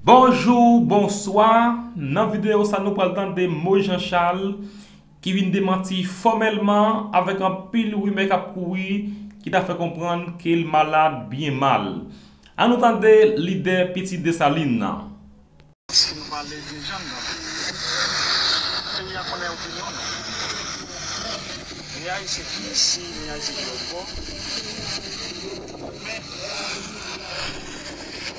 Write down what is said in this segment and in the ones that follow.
Bonjou, bonswa, nan videyo sa nou pral tande mo Jean Charles ki vin demanti fòmèlman avèk anpil rimè kap kouri ki ta fè konprann ke l malad byen mal. An nou tande lidè Pitit Desalin nan. Si nou pale de jèn nan peyi a, peyi a konnen opinyon nou. Ni Ayisyen ki isi, ni Ayisyen ki lòt bò. Men,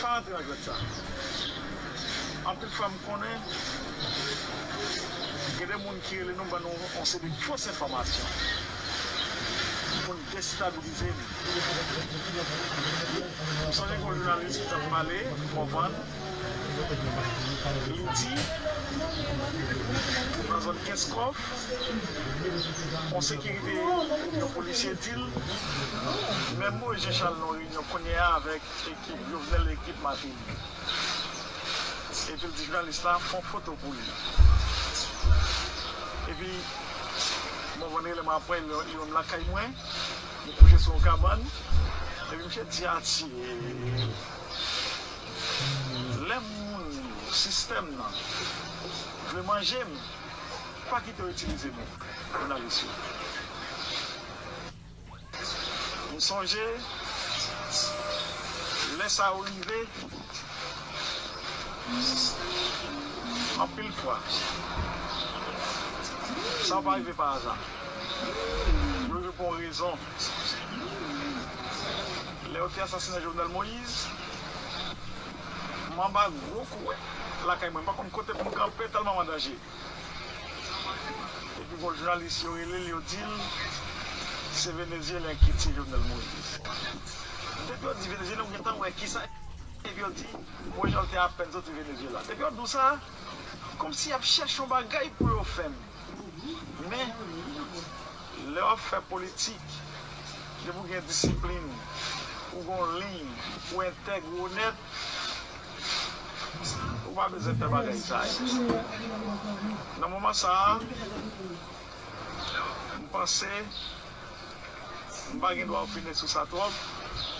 Pa antre nan jwèt sa. Anpil fwa m konnen gen de moun ki rele nou ban nou yon seri de fos enfòmasyon pou n destabilize nou. M sonje gen yon jounalis ki t ap pale Mòvann, li di nan zòn Kenskòf, yon sekirite, yon polisye di l, Menm Moïse Jean Charles nou reyinyon kounye a avèk Ekip jovenel ekip martelly. Epil di jounalis la fon foto pou li epi bon vendre lèm apwè li wèm lakay mwen m kouche sou yon kabann epi misye di atye lè moun sistèm nan vle manjem pa kite yo itilize nou jounalis yo. M sonje lè sa yo rive anpil fwa. Sa yo pa rive pa aza. Yo rive pou yon rezon. Lè yo te asasinen Jovenel Moïse, m anba gwo kouwè lakay mwen. M pa konn kote pou m kanpe tèlman m an danje. Epi gon jounalis yo relel yo dil se venezyelen ki tiye jovenel moïse depi yo di venezyelen ou gentan wè kisa epi yo di mourinho te apèn soti venezyela depi yo di w sa kòmsi yap chèche yon bagay pou yo fè n men lè wap fè politik depi w gen disiplin ou gon liy ou entèg ou onèt Ou pa bezwen fè bagay sa yo. Nan moman sa a, m panse m pa gen dwa opine sou sa twòp,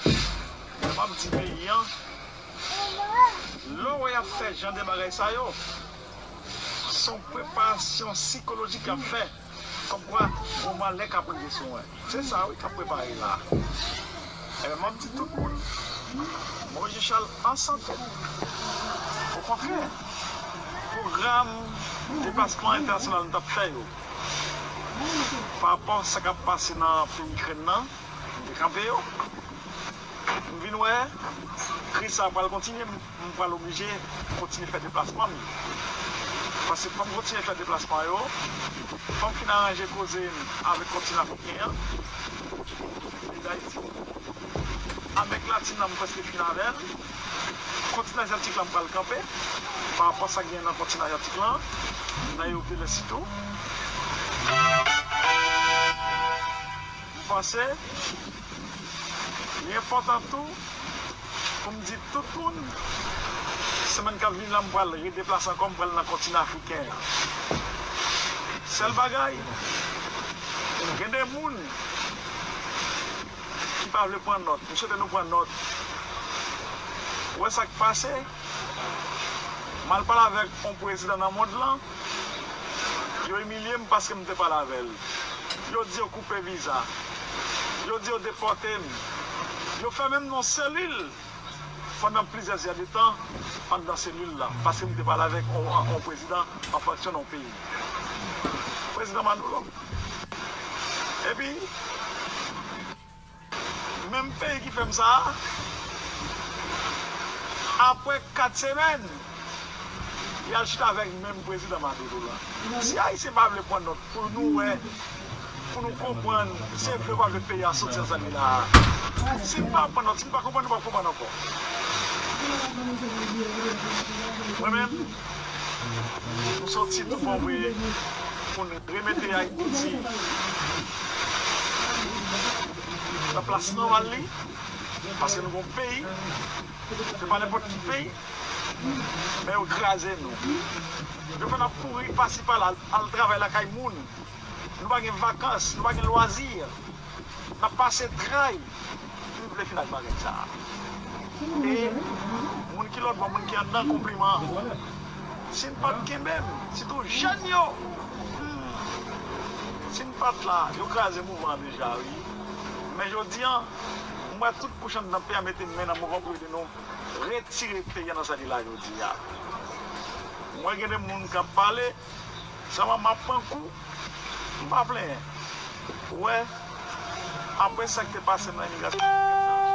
men m ap di peyi an, lè w wè y ap fè jan de bagay sa yo, se yon preparasyon sikolojik y ap fè. Kòmkwa gwo malè k ap rive sou mwen. Se sa wi k ap prepare la a. Enben, m ap di tout moun, Bon Dye Chal an sante. Okontrè, pwogram deplasman entènasyonal nou t ap fè yo, parapò sa k ap pase nan peyi Ikrèn nan, m te kanpe yo. M vin wè kriz sa a pral kontinye. M pral oblije kontinye fè deplasman m yo. Paske fò m kontinye fè deplasman yo, fò m fin aranje koze m avèk kontinan afriken an, peyi Dayiti. Amerik Latin nan m prèske fin avè l. Kontinan Azyatik lan m pral kanpe, parapò a sa k genyen nan kontinan Azyatik lan, nan Ewope lès sitou. M panse. Li enpòtan tou pou m di tout moun, semèn k ap vini la m pral redeplase ankò, m pral nan kontinan afriken an. Sèl bagay, gen de moun ki pa vle pran nòt, m swete nou pran nòt. Ou wè sa k pase? M al pale avèk yon prezidan nan mond lan. Yo imilye m paske m te pale avè l. Yo di yo koupe viza. Yo di yo depòte m. Yo fèmen m nan yon selil pandan plizyè zè de tan anndan selil la paske m te pale avèk yon prezidan an fonksyon nan yon peyi. Prezidan Manolo. Epi. Menm peyi ki fèm sa a. Apre 4 semèn yal chita avèk menm prezidan Maduro la. Si ayisyen pa vle pran nòt pou nou wè, pou nou konprann se vle ou pa vle peyi a soti nan sa li la a. Si nou pa pran nòt, si nou pa konprann nou pap konprann ankò. Mwen menm. M soti tou bon vre pou n remete Ayiti nan plas nòmal li paske nou gen yon peyi se pa nenpòt ki peyi men yo kraze nou yo fè n ap kouri pasi pala al travay lakay moun. Nou pa gen vakans, nou pa gen lwazi. N ap pase tray pou n vle fin ak bagay sa a. E moun ki lòtbò, moun ki anndan konpliman. Si n pa t kenbe m, sitou jèn yo, humm, si n pa t la, yo kraze mouvman an deja wi. Men jodi an, m wè tout kouch anndan peyi a mete men nan mouvman pou ede nou retire peyi a nan sa li la jodi a. M wè gen de moun k ap pale. Jaman map pran kou m pa plenyen ou wè aprè sak te pasem nan imigrasyon amerikèn sa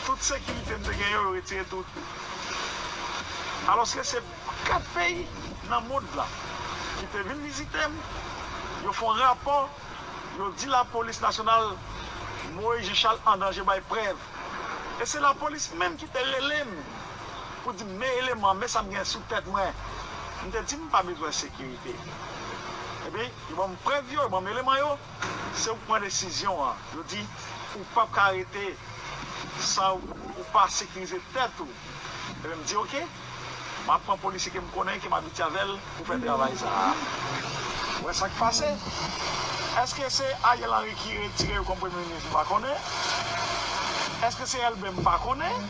tout sekirite m te gen yo yo retire tout alòske se 4 peyi nan mond lan ki te vin vizitem yo fon rapò yo di lapolis nasyonal Moïse Jean Charles andanje bay prèv e se lapolis menm ki te relem pou di m men eleman, men sa m gen sou tèt mwen. M te di m pa bezwen sekirite. Epi, yo ban m prèv yo, yo ban m eleman yo, se ou k pran desizyon an. Yo di, ou pap ka rete san ou pa sekirize tèt ou. Epi m di oke, m ap pran polisye ke m konnen, ke m abitye avè l pou fè travay sa a. Ou wè sa k pase. Eske se Ariel Henry ki retire yo kòm premye minis? M pa konnen. Eske se Elbé? M pa konnen.